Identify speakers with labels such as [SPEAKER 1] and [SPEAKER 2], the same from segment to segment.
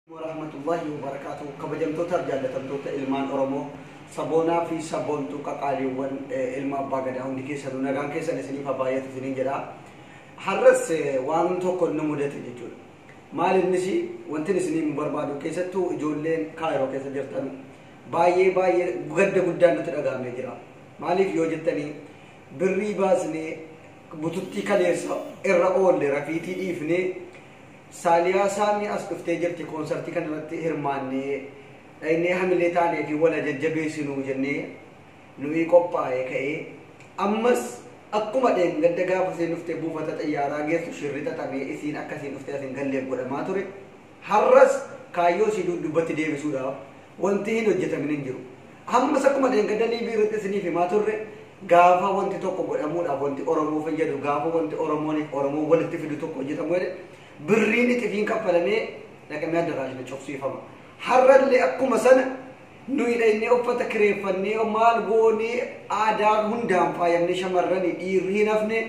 [SPEAKER 1] warahmatullahi wabarakatuh kabajamtootaaf jaallatamtoota ilmaan oromoo saboonaa fi sabboontuu qaqaaliiwwan ilma abbaa gadaa hundi keessanuu nagaan keessan isiniif haa baay'atu isiniin jedha har'as waan tokko nu mudate jechuudha maal innis wantin isiniif nu barbaadu keessattuu ijoolleen kaayiroo keessa jirtan baay'ee baay'ee gadda guddaan nutti dhagahamee jira maaliif yoo jettanii birrii baasnee bututtii kaleessa irra oolle rafiitii dhiifnee Saaliyaa Saamii as dhuftee jirti koonsartii kana irratti hirmaannee dhaynee hamilee taanee fi wala jajjabeessinuu jennee nu'ii qophaa'ee ka'ee ammas akkuma dheengadda gaafa isiin dhuftee buufata xayyaaraa geessu shirri xaxamee isiin akka isiin dhuftee as hin galleef godhamaa ture har'as kaayyoo isii duudubbatti deebisuudhaaf wanti hin hojjetamin hin jiru Ammas akkuma dheengadda liivii irratti isiniif himaa turre gaafa wanti tokko godhamuudhaaf wanti Oromoo fayyadu gaafa wanti Oromooniif Oromoo walitti fidu tokko hojjetamu jedhe birriin ixifiin kaffalamee dhaqamee addaraashni cufsiifama. Har'allee akkuma sana nuyi dhaqnee uffata kireeffannee maal goonee aadaa hundaan faayamnee shamarranii dhiirri hin hafne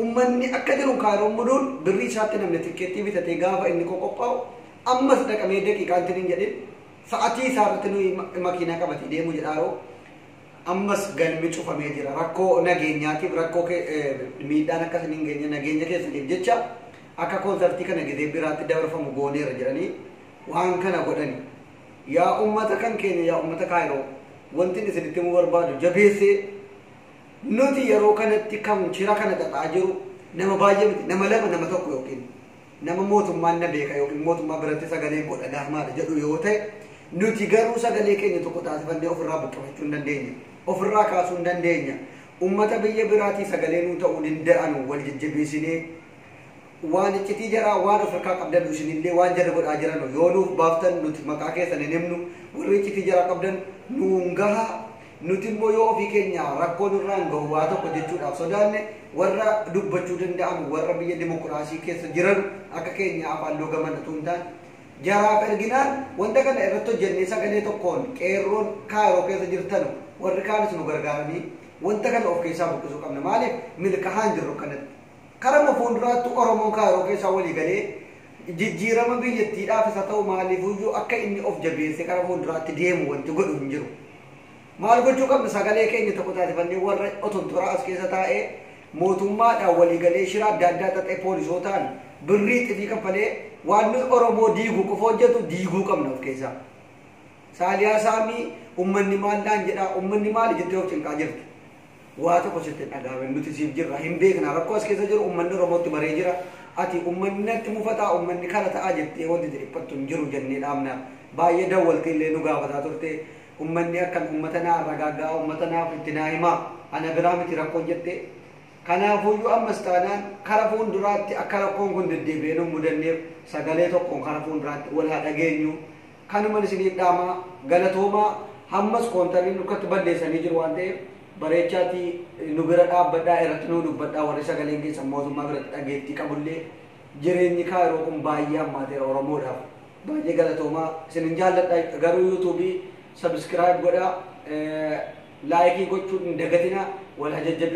[SPEAKER 1] ummanni akka jiru kaayiroon muduun birrii isaatti namni tikkeettii bitatee gaafa inni qoqophaa'u ammas dhaqamee daqiiqaan tiniin jedhin Sa'atii isaa irratti nuyi makiinaa qabatee deemuu jedhaaroo ammas galmi cufamee jira. Rakkoo nageenyaatiif rakkoo miidhaan akka isin hin geenye nageenya keessaniif jecha akka koonsartii kana gidee biraatti dabarfamu gooneera jedhanii waan kana godhani. Yaa uummata kan keenya yaa uummata kaayiroo wanti isinitti himuu barbaadu jabeessee nuti yeroo kanatti kan shira kana xaxaa jiru nama baay'ee miti nama lama nama tokko yookiin Nama mootummaan na beeka ykn mootummaa biratti sagaleen koo dhagahamaadha jedhu yoo ta'e, nuti garuu sagalee keenya tokko taasifannee ofirraa buqqifachuu hin dandeenya. Ofirraa kaasuu hin dandeenya. Ummata biyya biraatii sagalee nuu ta'uu dinda'anu wal jajjabeesinee waan iccitii jaraa waan of irkaa qabdanu isinillee waan jarri godhaa jiranu yoo nuuf baaftan nuti maqaa keessan hin himnu warri iccitii jaraa qabdan nuun gahaa Nuti immoo yoo ofii keenya rakkoo nurraan gahu waa tokko jechuudhaaf sodaanne warra dubbachuu danda'an warra biyya dimokiraasii keessa jiran akka keenyaa afaan loogaman utuu hin taane jaraaf erginaan wanta kana irratti hojjennee sagalee tokkoon qeerroon kaayiroo keessa jirtan warri kaanis nu gargaaranii wanta kana of keessaa buqqisuu qabna maaliif milkahaan jirru kanatti Karuma fuulduraattuu Oromoon Kaayiroo keessaa walii galee jijjiirama biyyattiidhaafis haa ta'u maaliifuyyuu akka inni of jabeessee kara fuulduraatti deemu wanti godhu hin jiru. Maal gochuu qabna sagalee keenya tokko taasifannee warra otontoraa as keessa taa'ee mootummaadhaan walii galee shira adda addaa xaxee poolisootaan birrii xifii kaffalee waan nuyi Oromoo diigu qofa hojjetu diiguu qabna of keessaa. Saaliyaa Saamii ummanni maal naan jedhaa ummanni maali jettee of cinqaa jirti. Waa tokko sitti hin dhaga'amin nuti siif jirra hin beekna rakkoo as keessa jiru ummanni Oromootti baree jira ati ummanni natti mufataa ummanni kana ta'aa jettee wanti itti dhiphattu hin jiru jennee dhaamna baay'ee dawwaltee illee nu gaafataa turte ummanni akkan ummata naa ragaaggaa ummata naaf itti naa himaa ana biraa miti rakkoon jettee kanaafuyyuu ammas taanaan kara fuulduraatti akka rakkoon kun deddeebi'ee nu mudanneef sagalee tokkoon kara fuulduraatti wal haa dhageenyu Kanuman isiniin dhaama galatoomaa hammas koontarri nurkatti balleessanii jiru waan ta'eef bareechaati nu bira dhaabbadhaa irratti nuu dubbadhaa warri sagaleen keessan mootummaa biratti dhageettii qabullee jireenyi kaayiroo kun baay'ee hammaateera oromoodhaaf baay'ee galatoomaa isinin jaalladha garuu yuutuubii sabiskiraayib godhaa laayikii gochuun hin dagatina wal hajajjabe